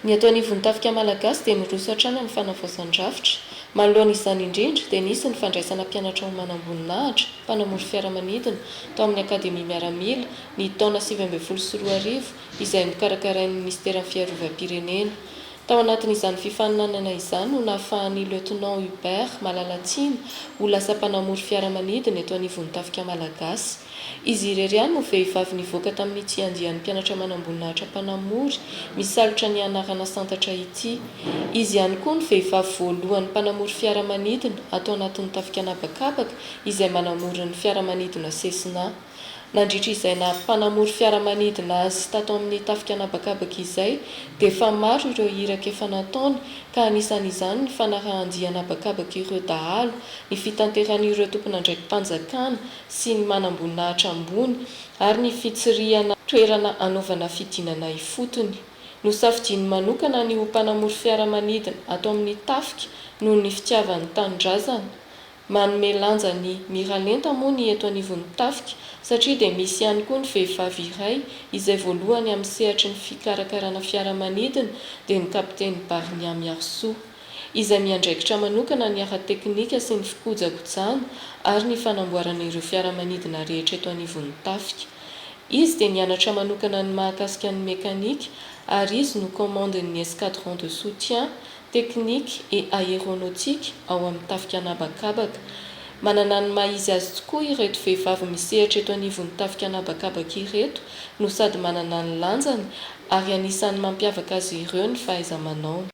Ny eto anivon'ny tafika malagasy dia niroso hatrany amin'ny fanavaozan-drafitra. Manoloana izany indrindra dia nisy ny fandraisana mpianatra ho manamboninahitra, mpanamory fiaramanidina, tao amin'ny Akademia Miaramila, ny taona sivy ambin'ny folo sy roa arivo, izay nokarakarain'ny Minisiteran'ny Fiarovam-pirenena. Tao anatin'izany fifaninanana izany no nahafahan'ny Lieutenant Hubert Malalatsimo ho lasa mpanamory fiaramanidina eto anivon'ny Tafika Malagasy. Izy irery ihany no vehivavy nivoaka tamin'ny tsiandihan'ny mpianatra manamboninahitra mpanamory misalotra ny anarana santatra ity. Izy ihany koa no vehivavy voalohany mpanamory fiaramanidina ato anatin'ny Tafika An'habakabaka izay manamory ny fiaramanidina Cessna. Nandritra izay naha mpanamory fiaramanidina azy tato amin'ny tafika an'habakabaka izay dia efa maro ireo iraka efa nataony ka anisan'izany ny fanarahan-dia an'habakabaka ireo dahalo, ny fitanteran'ireo tompon'andraiki-panjakana sy ny manamboninahitra ambony ary ny fitsirihana toerana hanaovana fidinana ifotony. Nosafidiany manokana ny ho mpanamory fiaramanidina ato amin'ny tafika noho ny fitiavany ny tanindrazana Manome lanja ny miralenta moa ny eto anivon'ny tafika satria dia misy ihany koa ny vehivavy iray izay voalohany amin'ny sehatry ny fikarakarana fiaramanidina dia ny Kapiteny Barnia Miarisoa izay miandraikitra manokana ny ara-teknika sy ny fikojakojana ary ny fanamboarana ireo fiaramanidina rehetra eto anivon'ny tafika. Izy dia nianatra manokana ny mahakasika ny mekanika ary izy no commande-n'ny Escadron de soutien Technique et Aéronautique ao amin'ny Tafika An'habakabaka. Manana ny maha izy azy tokoa ireto vehivavy misehatra eto anivon'ny Tafika An'habakabaka ireto no sady manana ny lanjany ary anisan'ny mampiavaka azy ireo ny fahaiza-manaony.